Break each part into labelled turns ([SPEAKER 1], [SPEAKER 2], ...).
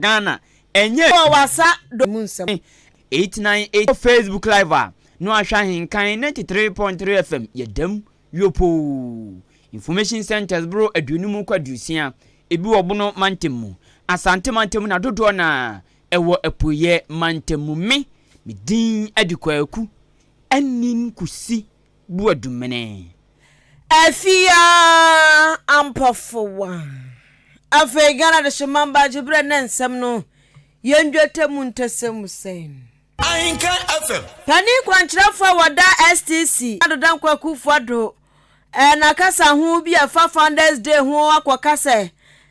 [SPEAKER 1] Ghana ɛnyɛ wɔ w'asa do mu
[SPEAKER 2] nsɛm no eyi tena yɛn
[SPEAKER 1] ekyir wɔ Facebook live a no ahwɛ ahenkan ninety three point three FM yɛ dɛm yopoo information centres boro aduonum kɔ aduosia ebi wɔ Bono mantam mu Asante mantam mu na dodoɔ no ara ɛwɔ Apueɛ mantam mu me me din ɛde Kwaku Anin Kusi Boadumene.
[SPEAKER 2] Afia Ampɔfowa. Afei Ghana Adehyemma Baagye Berɛ Nnɛ Nsɛm no yɛ Ndwetɛ mu Ntɛsɛm mu sɛn? Ahenka
[SPEAKER 3] FM. Panin kwankyerɛfoɔ
[SPEAKER 2] a wɔda STC, Ado Dankwa Akufo-Addo, n'akasa ho bi a ɛfa Founders Day ho akɔka sɛ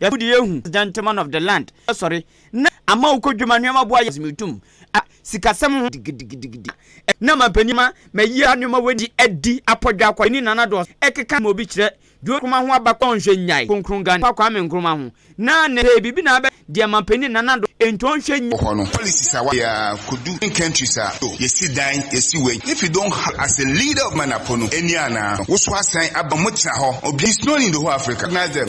[SPEAKER 1] Yɛto de ehu as gentleman of the land asɔre na ama wo kɔ dwuma nneɛma boa yɛ me tum a sikasɛm ho digidigidigidi a na mampanyin ma mayi a nneɛma wadi adi apɔdwe akɔ ani nana dɔɔso ɛkeka ma obi kyerɛ John Nkrumah ho abakɔ ɔnhwɛ nnyae Kronkron Gani pa Kwame Nkrumah ho na ne pɛɛ biribi na abɛ deɛ mampanyin nana dɔ enti ɔnhwɛ nnyae. hɔ no policies a wayɛ a
[SPEAKER 3] kodu in countries a oh yɛsi dan yɛsi wei if you don't have as a leader of Manapo no ɛni anaa no woso asan aba ɔmo tena hɔ obi is known in the whole Africa recognize them.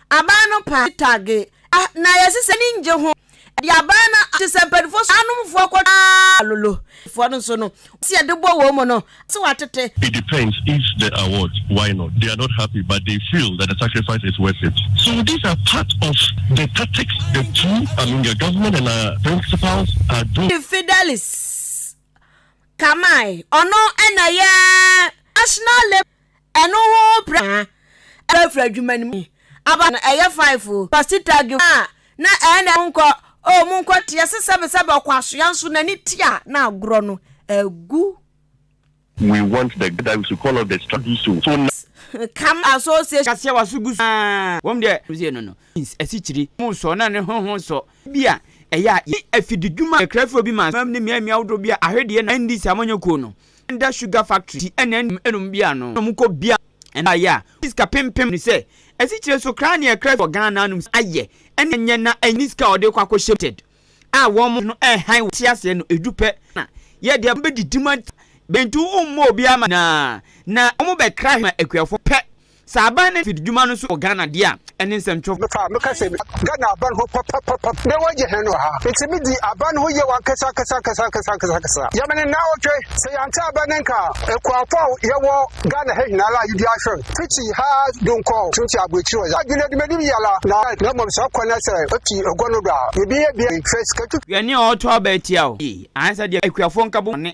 [SPEAKER 2] Aban no paa ne targe a na yɛse sɛ ani ngye ho de aban no akye sɛ mpanyinfoɔ so anomfoɔ kɔ twaa lolo foɔ no nso no wɔn se yɛde bɔ wɔn mu no ase watete. It depends if
[SPEAKER 4] the award why not they are not happy but they feel that the sacrifice is worth it so these are part of the tactics the two I mean the government and our principals are doing. Fidelis
[SPEAKER 2] Kamae ɔno na ɛyɛ National Labour. Ɛno ho pra a ɛbɛfiri adwuma no mu yi aba no, ɛyɛ five o, Pasita Gilbert a na ɛna monkɔ o, monkɔ teɛ se sɛbesɛbe ɔkwasoa nso n'ani te a na agorɔ no agu.
[SPEAKER 4] We want the gatherings to call off the strike do so so na. Cam
[SPEAKER 2] association. Aseɛ wa so gu so aa
[SPEAKER 1] wɔn deɛ. Ɔsɛ no no means asikyiri mo nsɔ na ne ho ho nsɔ bi a ɛyɛ a yɛn afididwuma ɛkrafoɔ bi ma sumam ne mmeammea ahodoɔ bi a ahwedeɛ na NDC a wɔnyɛ kuo no. Under sugar factory ti ɛna ɛnum ɛnum bi ano na ɔmo kɔ bia ɛna ayɛ a ɔmo sika pem pem no sɛ asikyire so kraa neɛ ɛkra fi wɔ Ghana anom sɛ ayɛ ɛna ɛnyɛ na ɛnyɛ ne sika a ɔde kɔ akɔ hyɛ mu limited a wɔn no ɛhan wɔ te aseɛ no ɛdu pɛ na yɛ deɛ bɛdidi mu ata bɛntu wo mmɔ obiara ma nyinaa na ɔmo bɛkra he ma akuafoɔ pɛ Sɛ aban ne mfididwuma no nso wɔ Ghana deɛ a, ɛne nsɛmtwerɛfoɔ. Meka a meka sɛ meka
[SPEAKER 5] Ghana aban ho papapapa na wɔagye hɛn wɔ ha. Ntsi midzi aban no ho yaw ankasa ankasa ankasa ankasa ankasa ankasa. Yɛ me ne naawɔtwe. Sɛ yɛanntse aban no nka a, ekuafo a yɛwɔ Ghana ha nyinara a yedua hwɛr fitsi ha donkɔ tsimtsi aborɛkyir hɔ dze, adwen edwuma bi biara na na mbom saa kwan no sɛ ofi egua no do a, yebia yebia hwɛ sika tutu. Hwɛ nea ɔɔtɔ aba
[SPEAKER 1] etsia wo yie ahansa deɛ ekuafo nka bɔ bɔne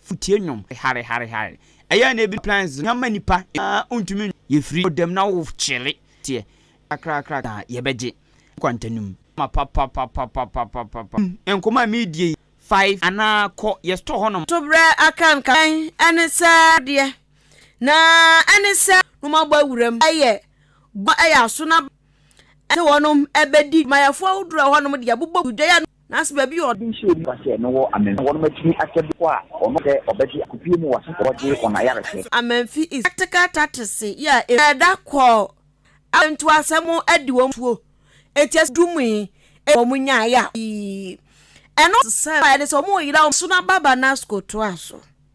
[SPEAKER 1] Futie nnwom hare hare hare Ɛyɛ a na ebinom plan dze hɛn ma nyimpa nyinaa onntumi nnwo Yefiri ɔdam na wo kyele teɛ kakrakra na yɛbɛgye nkwanta no mu ma papapapapapapapapa Nkɔmmɔ a meedie yi fae anaa kɔ yɛ store hɔnom a. Toberɛ akankan
[SPEAKER 2] ɛne sɛ adeɛ na ɛne sɛ wɔn abɔ awuram ɛyɛ gua ɛyɛ aso na ɛne wɔn ɛbɛdi Adwumayɛfoɔ ahodoɔ a ɛwɔ hɔnom deɛ bobɔ gu dua yi ano. Nanso baabi a. Ebi nhyɛɛ nnipa sɛ no wɔ amamfi na wɔnom atumi akyɛ bere kɔ a wɔnom sɛ wɔbɛgye akopie mu wɔaso wɔgye wɔn ayarehwɛ. Nanso amamfi is practical tactics yi a emu. Ɛda kɔɔ akwantu asɛm ho adi wɔn tuo enti ɛsɛ du mu yi enti wɔn nyae a pii ɛno sɛ ɛne sɛ wɔn reyera wɔn so na Baba Nasco toa so.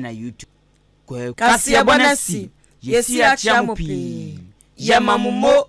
[SPEAKER 1] na YouTube.
[SPEAKER 2] Kaseɛbɔ no asi, yɛsi akyea mo pii. Yɛma mo mo!